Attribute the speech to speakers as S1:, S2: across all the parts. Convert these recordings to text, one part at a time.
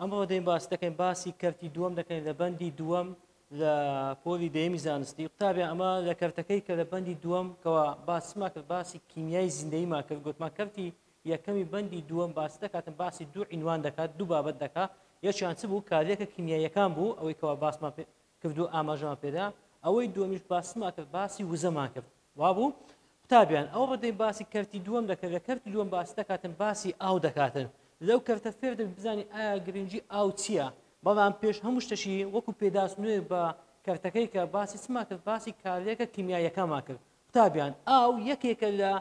S1: ئەمڕۆ دێین باس دەکەین باسی کەرتی دووەم دەکەین لە بەندی دووەم لە پۆلی دەیەمی زانستی قوتابیان ئەمە لە کەرتەکەی کە لە بەندی دووەم کەەوە باسما کرد باسی کیمیای زیندەیمان کرد گوتمان کەرتی یەکەمی بەندی دووەم باس دەکاتن باسی دوو عینوان دەکات دوو بابەت دەکات یەکیان چ بوو کارلێکە کیمیاییەکان بوو ئەوەی کەوا باسمان کرد و ئاماژەمان پێدا ئەوەی دووەمیش باسمان کرد باسی وزەمان کرد وابوو قوتابیان ئەو ڕدەی باسی کەرتی دووەم دەکرد لە کەرتی دووەم باس دەکاتن باسی ئاو دەکاتن لەو کەرتە فێر دەبی بزانانی ئایا گرنگجی ئاو چییە بەڵام پێش هەموو شتەشی وەکو پێداست نوێ بە کەرتەکەی کە باسی چما کرد باسی کارلێکە کیمیاییەکەمان کرد قوتابیان ئاو یەکێکە لە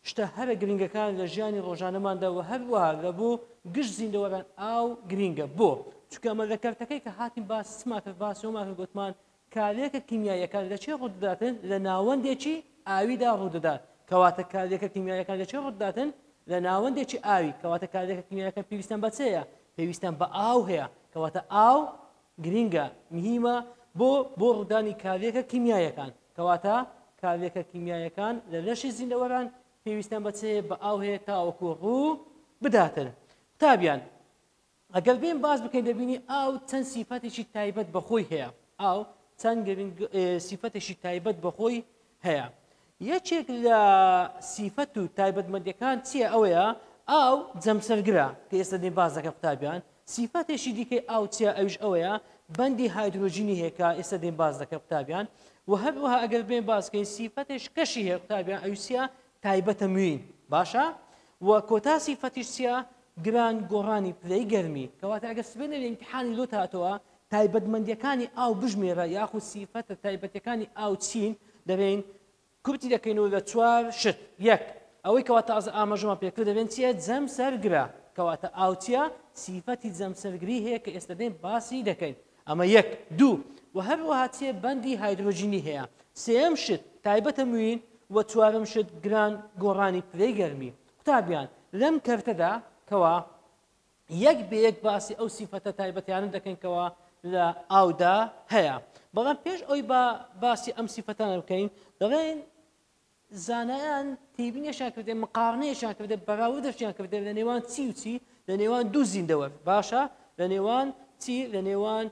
S1: شتە هەرە گرنگەکان لە ژیانی ڕۆژانەماندا و هەروەها لە بۆ گشت زیندەوەران ئاو گرینگە بۆ چونکە ئەمە لە کەرتەکەی کە هاتین باس چما کرد باس وما کرد گوتمان کارلێکە کیمیاییەکان لە چێ ڕوودەداتن لە ناوەندێکی ئاویدا ڕوودەدات کەواتە کارلێکە کیمیاییەکان لە چێ ڕوودەداتن لە ناوەندێکی ئاوی کەواتە کارلێکە کیمیاییەکە پێویستیان بە چێیە پێویستیان بە ئاو هەیە کەواتە ئاو گرینگە، مهیمە، بۆ بۆ ڕوودانی کارلێکە کیمیاییەکان، کەواتە کارلێکە کیمیاییەکان لە لەشی زیندەوەران پێویستیان بە چ هەیە؟ بە ئاو هەیە تاوەکو ڕوو بداتن. قوتابیان، ئەگەر بێین باس بکەین دەبینی ئاو چەند سیفەتێکی تایبەت بە خۆی هەیە، ئاو چەند گرنگ سیفەتێکی تایبەت بە خۆی هەیە یەکێک لە سیفەت و تایبەتمەندیەکان چییە ئەوەیە ئاو جەمسەرگرە کە ئێستا دێ باز دەکە قوتابیان سیفەتێکی دیکەی ئاو چیە ئەوش ئەوەیە بەندی هایدرۆژینی هێکا ئێستا دێن باز دەکە قوتابیان و هەروەها ئەگەر بێن باسکەین سیفەتێش کەشی هەیە قوتابیان ئەوسیا تایبەتە موین باشە و کۆتا سیفەتیش چیە گران گۆڕانی پلەی گەرمی کەواتە ئەگەر سبێنەر امتحانی لۆ هاتەوە تایبەتمەندیەکانی ئاو بژمێرە یاخود سیفەتە تایبەتیەکانی ئاو چین دەبین کورتی دەکەینەوە لە چوار شت یەک ئەوەی کەوا تازە ئاماژەمان پێکرد دەبێن چیە جەم سەرگرە کەواتە ئاوچیە سیفەتی جەم سەرگری هەیە کە ئێستا دێن باسی دەکەین ئەمە یەک دوو و هەروەها چێ بەندی هایدرۆجینی هەیە سێم شت تایبەتە موین و چوارم شت گران گۆڕانی پلەی گەرمی قوتابیان لەم کەرتەدا کەوا یەک بە یەک باسی ئەو سیفەتە تایبەتیانە دەکەین کەوا لە ئاودا هەیە بەڵام پێش ئەوی بە باسی ئەم سیفەتانە بکەین دەڵێن زانایان تێبینیشان کردێ مقارنەیەشان کردێ بەراوە دەشتیان کردێ لە نێوان چی و چی لە نێوان دوو زیندەوە باشە لە نێوان چی لە نێوان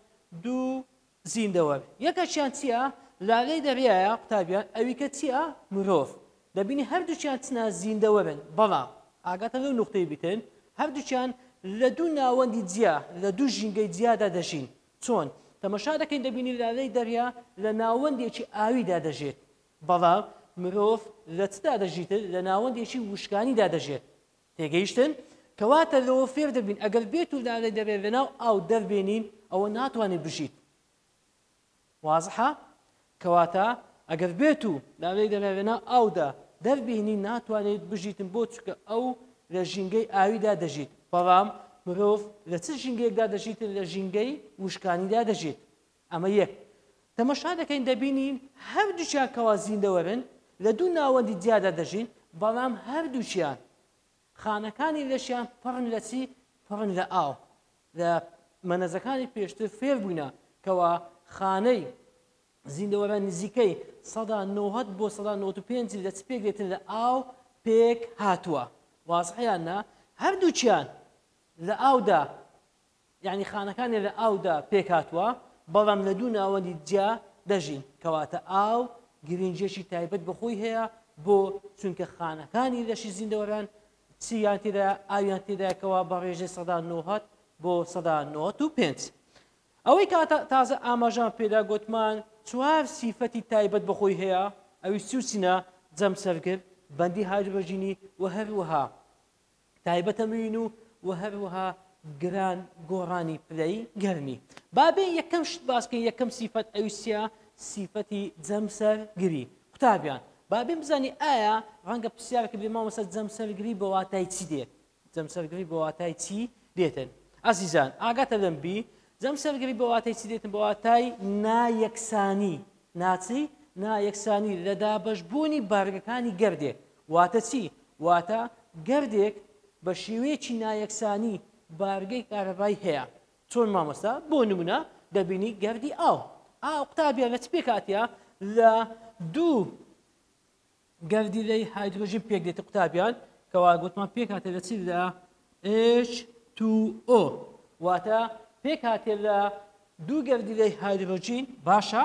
S1: دوو زیندەوەر یەکەکیان چیە لالەی دەریایە قوتابیان ئەویکە چیە مرۆڤ دەبینی هەردوکیان چنە زیندەوەرن بەڵام ئاگاتە لەو نوقتەی بیتن هەردوکیان لە دوو ناوەندی جیا لە دوو ژینگەی جیادا دەژین چۆن تەمەشا دەکەین دەبینی لالەی دەریا لە ناوەندێکی ئاویدا دەژێت بەڵام مرۆڤ لە چدا دەژیتر لە ناوەندێکی وشکانیدا دەژێت تێگەیشتن، کەواتە لەوە فێر دەبین ئەگەر بێت و لالێ دەبێت لەناو ئاو دەربێنین ئەوە ناتوانێت بژیت. وازحە؟ کەواتە ئەگەر بێت و لالێ دەبێت لەناو ئاودا دەربێنی ناتوانێت بژیتن بۆ چکە ئەو لە ژینگەی ئاویدا دەژیت بەڵام مرۆڤ لە چ ژینگەیەکدا دەژیتن لە ژینگەی وشکانیدا دەژیت. ئەمە یەک. تەمەشا دەکەین دەبینین هەردووکیان کەوا زیندەوەرن لە دوو ناوەندی جیادا دەژین، بەڵام هەردووکیان خانەکانی لەشیان پڕن لە چی؟ پڕن لە ئاو. لە مەنەزەکانی پێشتر فێر بووینە کەوا خانەی زیندەوەران نزیکەی سەدا نۆهەد بۆ سەدا نەوەد و پێنج لە چ پێک دێتن لە ئاو پێک هاتووە. وازحە یان نا؟ هەردووکیان لە ئاودا یەعنی خانەکانیان لە ئاودا پێکهاتووە، بەڵام لە دوو ناوەندی جیا دەژین، کەواتە ئاو گرنگییەکی تایبەت بە خۆی هەیە، بۆ؟ چونکە خانەکانی لەشی زیندەوەران چییان تێدایە؟ ئاویان تێدایە، کەوا بە ڕێژەی سەدا نۆهەد بۆ سەدا نۆهەد و پێنج. ئەوەی کە تازە ئاماژەمان پێدا گۆتمان چوار سیفەتی تایبەت بە خۆی هەیە، ئەویش چی و چینە؟ جەمسەرگر، بەندی هایدرۆجینی و هەروەها تایبەتە مین و وە هەروەها گران گۆڕانی پلەی گەرمی بابێ یەکەم شت باس بکەین یەکەم سیفەت ئەوی چیە سیفەتی جەمسەرگری قوتابیان بابێن بزانانی ئایا ڕەنگە پرسیارەکە بێ مامەسە جەمسەرگری بە واتای چی دێت جەمسەرگری بە واتای چی دێتن ئازیزان ئاگاتە دەم بی جەمسەرگری بە واتای چی دێتن بە واتای نایەکسانی ناچی نایەکسانی لە دابەشبوونی بارگەکانی گەردێک واتە چی؟ واتە گردێک بە شێوەیەکی نایەکسانی بارگەی کارەبای هەیە چۆن مامۆستا؟ بۆ نمونە دەبینی گردی ئاو ئا قوتابیان لە چ پێکاتە لە دوو گردی لەی هایدرۆژین پێک دێت قوتابیان کەوا گوتمان پێکاتە لە چی لە H2O واتە پێکاتێ لە دوو گردی لەی هایدرۆژین باشە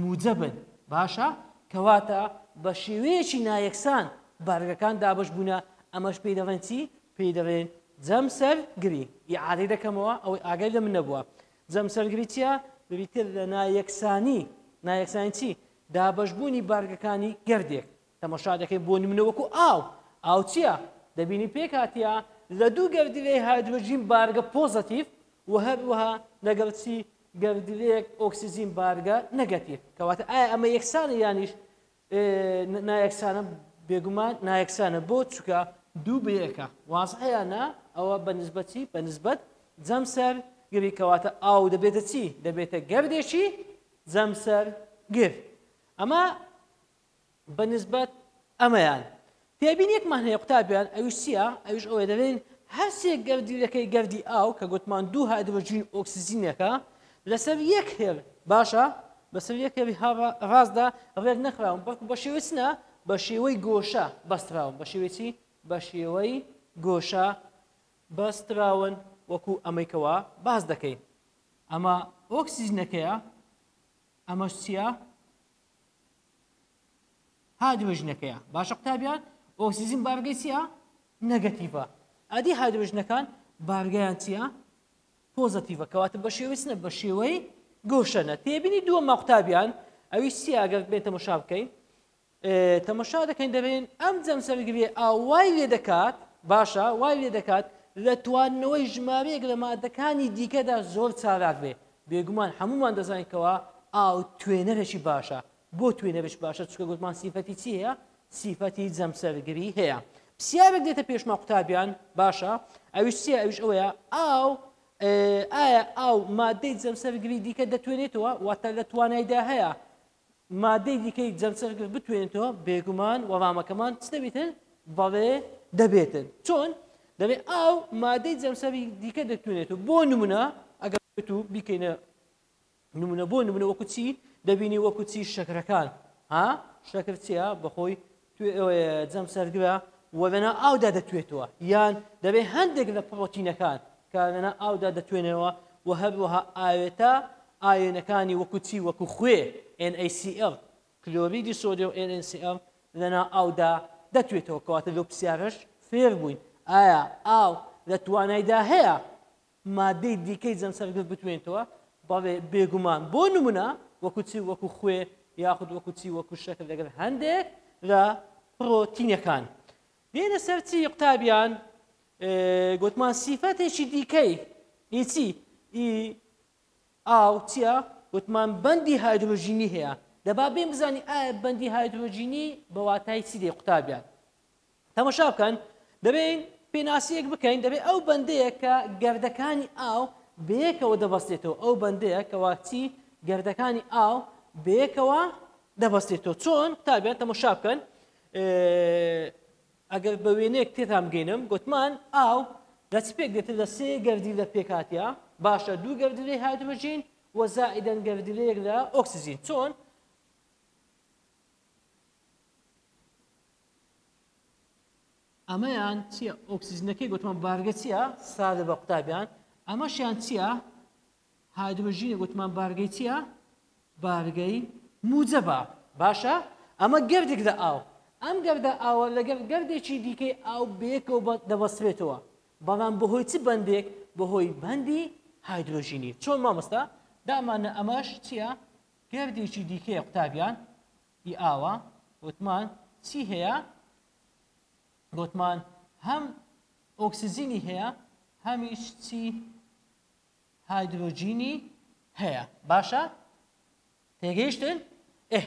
S1: موجەبن، باشە، کەواتە بە شێوەیەکی نایەکسان بارگەکان دابەش بوونە، ئەمەش پێی دەڵێن چی؟ پێی دەڵێن جەمسەرگری، ئیعادەی دەکەمەوە ئەوەی ئاگای لەمن نەبووە، جەمسەرگری چییە؟ بریتییە لە نایەکسانی، نایەکسانی چی؟ دابەش بوونی بارگەکانی گردێک، تەماشا دەکەین بۆ نمونە وەکو ئاو ئاو چییە دەبینی پێکاتە لە دوو گەردیلەی هایدرۆژین بارگە پۆزەتیف و هەروەها لەگەڵ چی گەردیلەیەک ئۆکسسیجین بارگە نەگەتیف کەواتە ئایا ئەمە یەکسانە یانیش نایەکسانە بێگومان نایەکسانە بۆ چکە دوو بەیەکە وازحەیانە ئەوە بە نسبەتی بە نسبەت جەمسەر گری کەواتە ئاو دەبێتە چی دەبێتە گەردێکی جەمسەر گر ئەمە بە نسبەت ئەمەیان تێبینیەکمان هەیە قوتابیان ئەویش چییە ئەویش ئەوەی دەڵێن هەرسێک گەردیلەکەی گەردی ئاو کە گوتمان دوو هایدرۆجین ئۆکسسیجینەکە لەسەر یەک هێل باشە بەسەر یەک هێڵی ڕاستدا ڕێک نەخراون بەڵکو بە شێوەی چنە بە شێوەی گۆشە بەستراون بە شێوەی چی بە شێوەی گۆشە بەستراون وەکو ئەمەیکەوە باز دەکەین ئەمە ئۆکسسیجنەکەیە ئەمەش چییە هایدرۆجنەکەیە باشە قوتابیان ئۆکسسیجین بارگەی چیە نەگەتیڤە ئەدی هایدرۆژنەکان بارگەیان چیە پۆزەتیڤە کەواتە بە شێوەچنە بە شێوەی گۆشەنە تێبینی دووە ماقوتابیان ئەوی چی ئەگەر بێت تەمەشا بکەین تەمەشا دەکەین دەبێن ئەم جەم سەرگرێ ئاوای لێ دەکات باشە وای لێ دەکات لە توانەوەی ژمارەیەک لە مادەکانی دیکەدا زۆر چالاک بێ بێگومان هەموومان دەزانین کەوا ئاو توێنەرەکی باشە بۆ توێنەرش باشە چکە گوتمان سیفەتی چی هەیە سیفەتی جەمسەرگری هەیە پرسیارێک دێتە پێشما قوتابیان باشە ئەویش چیە ئەوش ئەوەیە ئاو ئایا ئاو مادەی جەمسەرگری دیکە دەتوێنێتەوە واتە لە توانایدا هەیە مادەی دیکەی جەمسەرگرت بتوێنێتەوە بێگومان وەڵامەکەمان چ دەبێتن بەڵێ دەبێتن چۆن دەبێت ئاو مادەی جەمسەری دیکە دەتوێنێت و بۆ نمونە ئەگەر بێت و بیکەینە نمونە بۆ نمونە وەکوچی دەبینی وەکوچی شەکرەکان ها شەکر چیە بەخۆی جەم سەرگرە و لەنا ئاودا دەتوێتەوە یان دەبێت هەندێک لە پڕۆتینەکان کە لەنا ئاودا دەتوێنەوە و هەروەها ئاوێتە ئاوێنەکانی وەکو چی وەکو خوێ NaCl کلۆریدی سۆدیۆم NaCl لەنا ئاودا دەتوێتەوە کەواتە لەو پرسیارەش فێر بووین ئایا ئاو لە توانایدا هەیە مادەی دیکەی جەمسەرگرت بتوێنیتەوە، بەڵێ بێگومان، بۆ نمونە وەکو چی وەکو خوێ یاخود وەکو چی وەکو شەکر لەگەل هەندێک لە پرۆتینەکان. دێینە سەر چی قوتابیان؟ گوتمان سیفەتێکی دیکەی ئی چی؟ ئی ئاو چیە؟ گوتمان بەندی هایدرۆژینی هەیە دەبا بێن بزانی ئایا بەندی هایدرۆژینی بەواتای چی دێ قوتابیان؟ تەمەشا بکەن دەبێین پێناسیەک بکەین دەبێ ئەو بەندەیە کە گردەکانی ئاو بەیەکەوە دەبەستێتەوە ئەو بەندەیە کەوا چی گردەکانی ئاو بەیەکەوە دەبەستێتەوە چۆن قوتابیان تەمەشا بکەن ئەگەر بە وێنێک تێتان بگەینم گوتمان ئاو لە چ پێک دێتن لە سێ گردی لە پێکاتیا باشە دوو گردلێ هایدروژین و زائیدەن گردلەیەک لە ئۆکسسیجین چۆن ئەمەیان چییە ئۆکسسیجنەکەی گوتمان بارگە چییە سادە بە قوتابیان ئەمەشیان چییە هایدروژینە گوتمان بارگەی چییە بارگەی موجەبە باشە ئەمە گردێک لە ئاو ئەم گردە ئاوە لەگەڵ گردێکی دیکەی ئاو بێکەوە دەبەسرێتەوە بەڵام بەهۆی چ بەندێک بەهۆی بەندی هایدروژینی چۆن مامۆستا دامانە ئەمەش چییە گردێکی دیکەیە قوتابیان ی ئاوا وتمان چی هەیە گۆتمان هەم ئۆکسجینی هەیە هەمیش چی هایدرۆجینی هەیە باشە تێگەیشتن ئه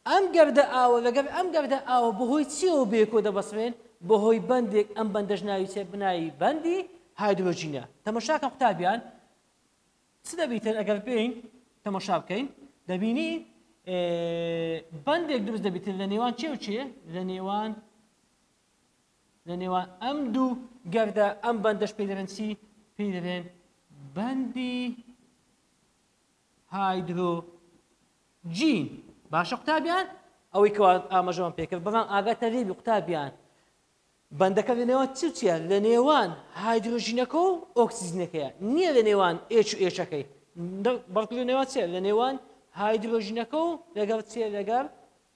S1: ئەم گەردە ئاوە لەگەر ئەم گەردە ئاوە بەهۆی چیەوە بێکۆ دەبەسرێن بەهۆی بەندێک ئەم بەندەش ناوی چێ بناوی بەندی هایدرۆجینە تەمەشاکە قوتابیان چ دەبی تر ئەگەر بێین تەماشا بکەین دەبینی بەندێک دروست دەبیت لە نێوان چێ و چێ لە نێوان لە نێوان ئەم دوو گەردە ئەم بەندەش پێ دەرێن چی پێ دەرێن بەندی هایدرۆ جین باشە قوتابیان ئەوەی کەوا ئاماژەوان پێکرد بەڵام ئاگاتە لێبی قوتابیان بەندەکە لە نێوان چ و چیە؟ لە نێوان هایدرۆژینەکە و ئۆکسجینەکەیە، نییە لە نێوان ئێچ و ئێچەکەی، بەڵکو لە نێوان چیە؟ لە نێوان هایدرۆژینەکە و لەگەڵ چیە؟ لەگەڵ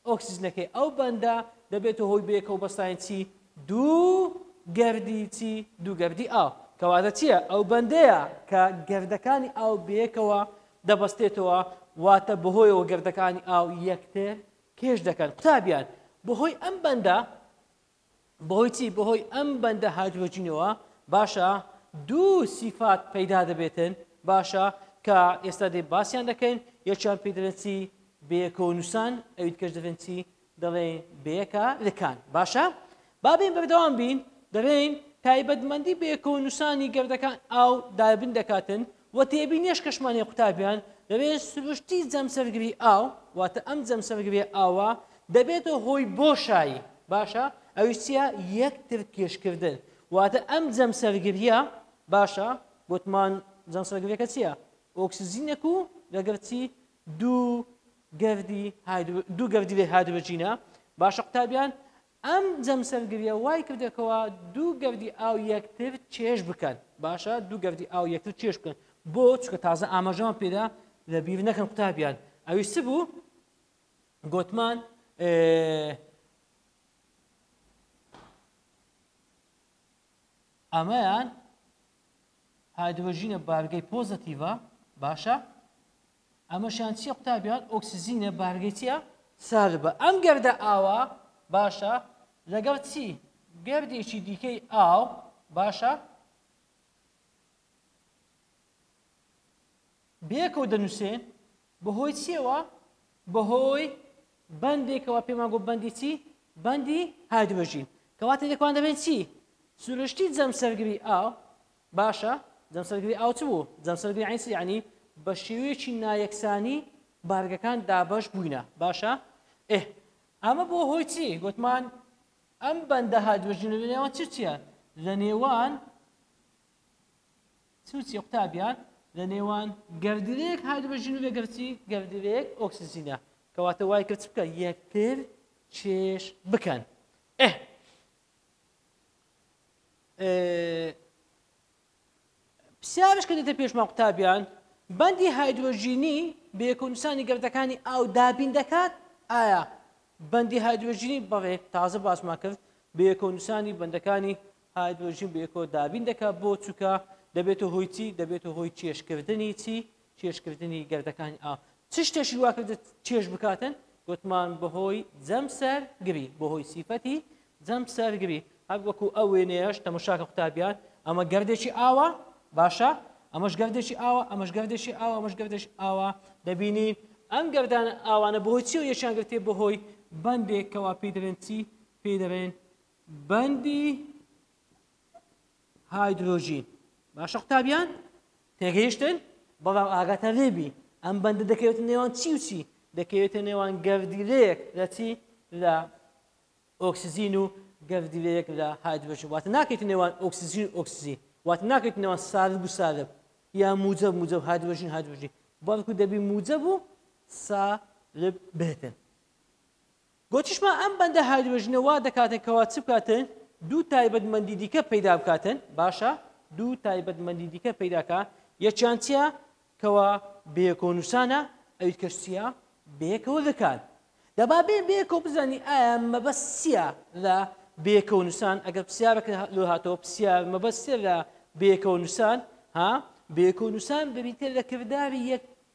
S1: ئۆکسجینەکەی. ئەو بەندە دەبێتە هۆی بەیەکەوە بەستانی چی؟ دوو گەردی چی؟ دوو گەردی ئاو. کەواتە چیە؟ ئەو بەندەیە کە گەردەکانی ئاو بەیەکەوە دەبەستێتەوە، واتە بەهۆیەوە گەردەکانی ئاو یەکتر کێش دەکەن. قوتابیان، بەهۆی ئەم بەندە بەهۆی چی بەهۆی ئەم بەندە هایدرۆجینەوە باشە دوو سیفات پەیدا دەبێتن باشە کە ئێستا دێ باسییان دەکەین یەکیان پێی دەڵێن چی بەیەکەوە نووسان ئەویت کەش دەڵێن چی دەڵێن بەیەکە لکان باشە بابین بەردەوام بین دەڵێن تایبەتمەندی بەیەکەوە نووسانی گردەکان ئاو دابن دەکاتن و تێبینی ئەشکەشمانی قوتابیان، دەبێت سروشتی جەمسەرگری ئاو، واتە ئەم جەمسەرگرییە ئاوە، دەبێتە هۆی بۆشایی، باشە، ئەویش چییە؟ یەکترکێشکردن، واتە ئەم جەمسەرگرییە، باشە، گوتمان جەمسەرگرییەکە چییە؟ ئۆکسجینێک و لەگەڵ چی؟ دوو گەردی هایدرو، دوو گەردیلەی هایدرۆجینە، باشە قوتابیان، ئەم جەمسەرگریە وای کردەکەوە دوو گەردی ئاو یەکتر چێژ بکەن باشە دوو گەردی ئاو یەکتر چێژ بکەن بۆ چکە تازە ئاماژەمان پێدا لە بیر نەکەن قوتابیان ئەوی چ بوو گوتمان ئەمەیان هایدرۆژینە بارگەی پۆزەتیڤە باشە ئەمەشیان چیە قوتابیان ئۆکسجینە بارگەی چیە سالبە ئەم گەردە ئاوە باشە لەگەڵ چی گەردێکی دیکەی ئاو باشە بێکەوە دەنووسێن بەهۆی چیەوە بەهۆی بەندێکەوە پێمان گۆ بەندی چی بەندی هایدرۆژین کەواتە لێکوان دەبێت چی سروشتی جەم سەرگری ئاو باشە جەمسەرگری ئاو چ بوو؟ جەمسەرگری عەین چ یەعنی؟ بە شێوەیەکی نایەکسانی بارگەکان دابەش بووینە باشە ئه ئەمە بۆ هۆی چی گوتمان ئەم بەندە هادوەژی لە نێوان چ چیە لە نێوان سوچی قوتابیان لە نێوان گردلێک هادوەژین و لەگەرچی گردلێک ئۆکسسینە کەواتە وای کرد بکە یەکتر چێش بکەن ئه پرسیارش کە دێتە پێشمان قوتابیان بەندی هایدرۆژینی بە یەکونسانی گردەکانی ئاو دابین دەکات ئایا بەندی هایدرۆژینی بەڵێ تازە باسمان کرد بە یەکونسانی بەندەکانی هایدرۆژین بە یەکۆ دابین دەکات بۆ چووکە دەبێتە هۆیچی دەبێتە هۆی کێشکردنی چی کێشکردنی گەردەکانی ئاو چ شتێکی وا کردت کێش بکاتن گوتمان بەهۆی جەم سەر گری بەهۆی سیفەتی جەم سەر گری هەر وەکو ئەو وێنەیەش تەمەشاکە قوتابیان ئەمە گردێکی ئاوە باشە ئەمەش گردێکی ئاوە ئەمەش گردێکی ئاوە ئەمەش گردش ئاوە دەبینین ئەم گردان ئاوانە بەهۆی چی و یەکیان گرتێ بەهۆی بەندێک کەوا پێی دەرێن چی پێی دەرێن بەندی هایدرۆژین باشە قوتابیان تێگەیشتن بەڵام ئاگاتان لێبی ئەم بەندە دەکەوێتە نێوان چی و چی دەکەوێتە نێوان گەردیلەیەک لە چی لە ئۆکسزین و گەردیلەیەک لە هایدرۆژین واتە ناکەیت نێوان ئۆکسزین ئۆکسزی واتە ناکەیت نێوان سالب و سالب یا موجە موجە هایدرۆژین هایدرۆژین بەڵکو دەبی موجە بوو سالب بێتن گۆتیشمان ئەم بەندە هایدرۆجینە وا دەکاتن کەوا چ بکاتن دوو تایبەتمەندی دیکە پەیدا بکاتن باشە دوو تایبەتمەندی دیکە پەیداکە یەکیان چیە کەوا بەیەکەوە نووسانە ئەویت کەش چیە بەیەکەوە دەکات دەبا بێ بێکەوە بزانی ئایا مەبەست چییە لە بێکەوە نووسان ئەگەر پرسیارەکە لۆ هاتەوە پرسیار مەبەست چیە لە بێکەوە نووسان ها بێکەوە نووسان بریتە لە کرداری یەک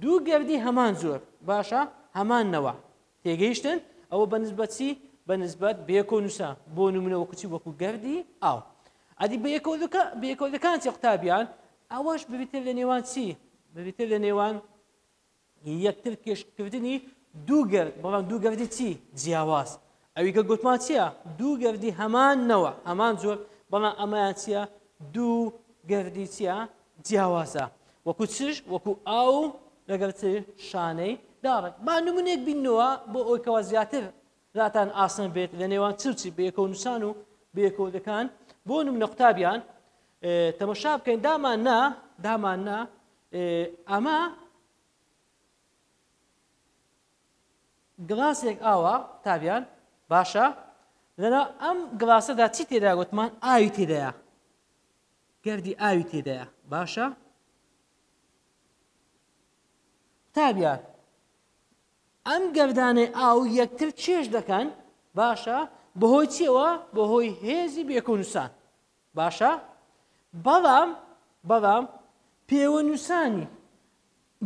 S1: دوو گردی هەمان جۆر، باشە، هەمان نەوە. تێگەیشتن؟ ئەوە بە نسبەت چی؟ بە نسبەت بەیەکەوە نووسە، بۆ نموونە وەکو چی؟ وەکو گردی ئاو. ئەدی بەیەکەوەەکان چی قوتابیان؟ ئەوەش بریتە لە نێوان چی؟ بریتە لە نێوان یەکتر کێشکردنی دوو گرد، بەڵام دوو گردی چی؟ جیاواز. ئەوی کە گوتمان چییە؟ دوو گردی هەمان نەوە، هەمان جۆر، بەڵام ئەمەیان چییە؟ دوو گردی چییە؟ جیاوازە. وەکو چش، وەکو ئاو لەگەڵ چ شانەی داڕێک. با نمونەیەک بیننەوە بۆ ئەوەی کەوا زیاتر راتان ئاسان بێت لە نێوان چ و چی بەیەکەوە نووسان و بەیەکەوەدەکان بۆ نمونە قوتابیان تەمەشا بکەین دامان نا دامان نا ئەمە گڵاسێک ئاوە قوتابیان باشە لەنا ئەم گڵاسەدا چی تێدا گوتمان ئاوی تێدایە گردی ئاوی تێدایە باشە قوتابیان ئەم گردانەی ئاو یەکتر چێش دەکەن باشە بەهۆی چیەوە بەهۆی هێزی بێکۆنووسان باشە بەڵام بەڵام پێوەنووسانی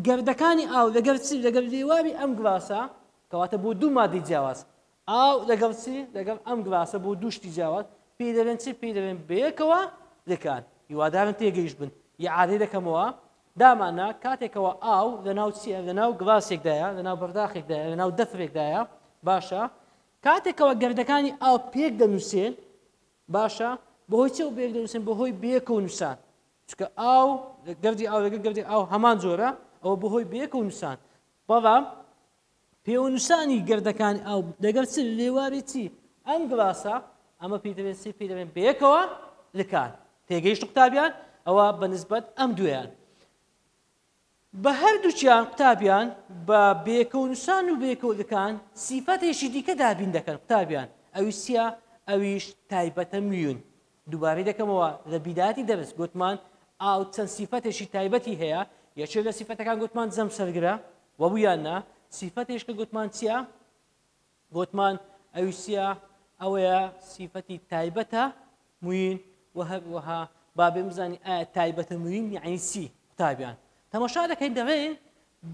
S1: گردەکانی ئاو لەگەڵ چی؟ لەگەڵ لێواری ئەم گڵاسە، کەواتە بۆ دوو مادەی جیاواز. ئاو لەگەڵ چی؟ لەگەڵ ئەم گڵاسە بۆ دوو شتی جیاواز. پێی دەڵێن چی؟ پێی دەڵێن بەیەکەوە لکان. هیوادارم تێگەیشت بن. ئیعادەی دەکەمەوە. داماننا کاتێکەوە ئاو لەناو چییە؟ لەناو گڵاسێکدایە، لەناو بەرداخێکدایە، لەناو دەفرێکدایە. باشە. کاتێکەوە گردەکانی ئاو پێک دەنووسێن، باشە، بەهۆی چییەوە پێک دەنووسێن؟ بەهۆی بەیەکەوە نووسان. چونکە ئاو گردی ئاو لەگە گردی ئاو هەمان جۆرە ئەوە بەهۆی بەیەکەوە نووسان بەڵام پێوەنووسانی گردەکانی ئاو لەگەر چ لێواری چی ئەم گڵاسە ئەمە پێی دەبێن سی پێی دەبێن بەیەکەوە لکان تێگەیشت قوتابیان ئەوە بە نسبەت ئەم دوێیان بە هەردووکیان قوتابیان بە بێکەو نووسان و بێکەوگەکان سیفەتێکی دیکە دابین دەکەن قوتابیان ئەویش چیە ئەویش تایبەتە میون دووبارەی دەکەمەوە لە بیدایەتی دەرس گوتمان ئاو چەند سیفەتێکی تایبەتی هەیە یەکێ لە سیفەتەکان گوتمان جەمسەرگرە وەبوویان نا سیفەتێش کە گوتمان چیە گۆتمان، ئەویش چییە؟ ئەوەیە سیفەتی تایبەتە موین و هەروەها با بێم بزانین ئایا تایبەتە موین یعنی چی قوتابیان تەمەشا دەکەین دەڵێن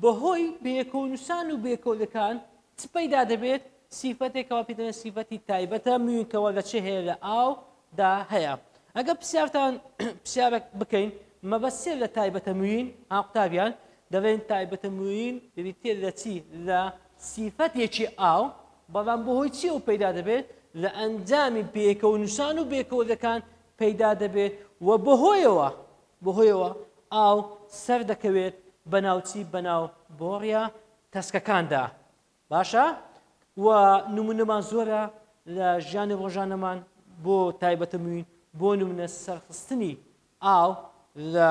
S1: بەهۆی بێکۆنوسان و بێکۆلەکان چ پەیدا دەبێت سیفەتێکەوە پێ دەڵێن سیفەتی تایبەتە موینکەوە لە چێ هەیە لە ئاو دا هەیە ئەگە پرسیارتان پرسیارە بکەین مەبەسێ لە تایبەتە موین ها قوتابیان دەڵێن تایبەتە موین بریتێ لە چی لە سیفەتێکی ئاو، بەڵام بەهۆی چییەوە پەیدا دەبێت؟ لە ئەنجامی پێکەوەنووسان و بێکەوەدەکان پەیدا دەبێت و بەهۆیەوە بەهۆیەوە ئاو سەردەکەوێت بەناو چی؟ بەناو بۆڕییە تەسکەکاندا. باشە؟ و نموونەمان زۆرە لە ژیانی ڕۆژانەمان بۆ تایبەتە موین بۆ نمونە سەرخستنی ئاو لە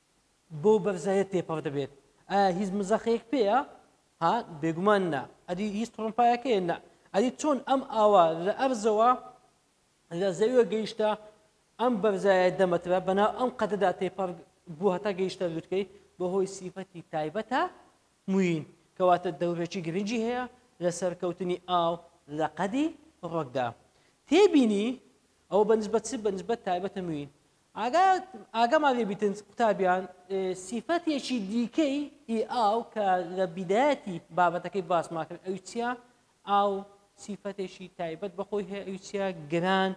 S1: بەو بەرزایە تێپەڕ دەبێت ئایا هیچ مزەخەیەک پێیە ها بێگومان نا ئەدی هیچ تڕمپایەکەیە نا ئەدی چۆن ئەم ئاوا لە ئەرزەوە لە زەویوە گەیشتە ئەم بەرزایە دەمەترە بەناو ئەم قەدەدا تێپەڕ بوو هەتا گەیشتە لوتکەی بەهۆی سیفەتی تایبەتە موین کەواتە دەورێکی گرنگی هەیە لە سەرکەوتنی ئاو لە قەدی ڕۆکدا تێبینی ئەو بەنسبەت چ بەنسبەت تایبەتە موین ئاگا ئاگا مالێبیتنس قوتابیان سیفەتێکی دیکەی ئی ئاو کە لە بیدایەتی بابەتەکەی باسمان کرد ئەوی چییە؟ ئاو سیفەتێکی تایبەت بەخۆی هەیە ئەوی چییە؟ گران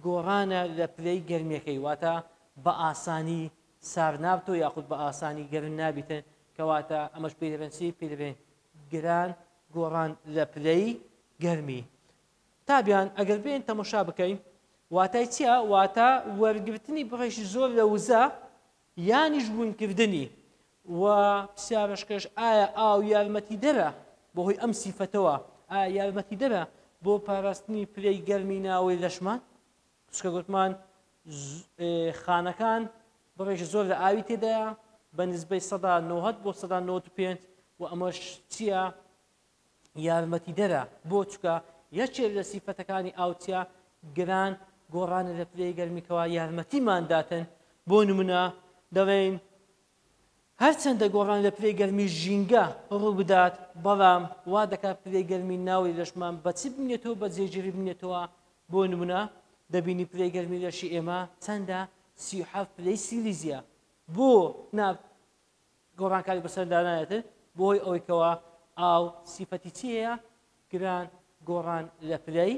S1: گۆڕانە لە پلەی گەرمیەکەی واتە بە ئاسانی سارد نابتەوە یاخود بە ئاسانی گەرم نابیتن کەواتە ئەمەش پێی دەبێن چی پێی دەبێن گران گۆڕان لە پلەی گەرمی تابیان، ئەگەر بێین تەمەشا بکەین واتای چیە؟ واتە وەرگرتنی بڕێکی زۆر لە وزە یانیش بوونکردنی و پرسیارشکەش ئایا ئاو یارمەتی دەرە بەهۆی ئەم سیفەتەوە ئا یارمەتی دەرە بۆ پاراستنی پلەی گەرمی ناوەی لەشمان سکە گوتمان خانەکان بڕێکی زۆر لە ئاوی تێدایە بە نزبەی سەدا 90 بۆ سەدا 95 و ئەمەش چییە یارمەتیدەرە بۆ چکە، یەکێ لە سیفەتەکانی ئاو چیا گران گۆڕانە لە پلەی گەرمی کەوا یارمەتیمان داتن بۆ نمونە دەڵێین هەرچەندە گۆڕان لە پلەی گەرمی ژینگە ڕووبدات بەڵام وا دەکات پلەی گەرمی ناوی لەشمان بەچ بنێتەوە بە جێگیری بنێتەوە بۆ نمونە دەبینی پلەی گەرمی لەشی ئێمە چەندە سی و حەفت پلەی سیلیزیە بۆ نا گۆڕانکاری بەسەر دانایەتر بۆی ئەوەی کەوا ئاو سیفەتی چی هەیە گران گۆڕان لە پلەی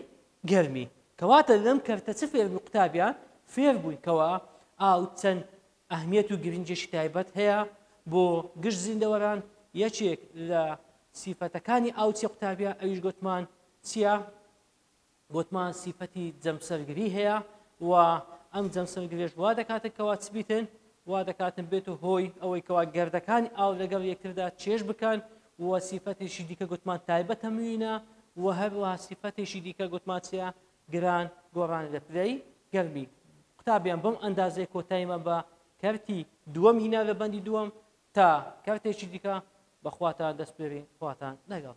S1: گەرمی کەواتە لەم کەرتە چ فێر قوتابیان فێر بووین کەوا ئاو چەند ئەهمیەت و گرنجێکی تایبەت هەیە بۆ گشت زیندەوەران یەکێک لە سیفەتەکانی ئاو چی قوتابیا ئەویش گوتمان چییە گۆتمان سیفەتی جەمسەرگری هەیە و ئەم جەمسەرگرێش وا دەکاتن کەوا چ بیتن وا دەکاتن بێت و هۆی ئەوەی کەوا گردەکانی ئاو لەگەڵ یەکتردا چێش بکەن و سیفەتێکی دیکە گوتمان تایبەتە موینە و هەروەها سیفەتێکی دیکە گوتمان چیە گران گۆڕان لە پلەی گەرمی قوتابیان بەم ئەندازەی کۆتایمە بە کەرتی دووەم هینا لە بەندی دووەم تا کەرتێکی دیکە بەخواتان دەستپێرین خواتان لەگەڵ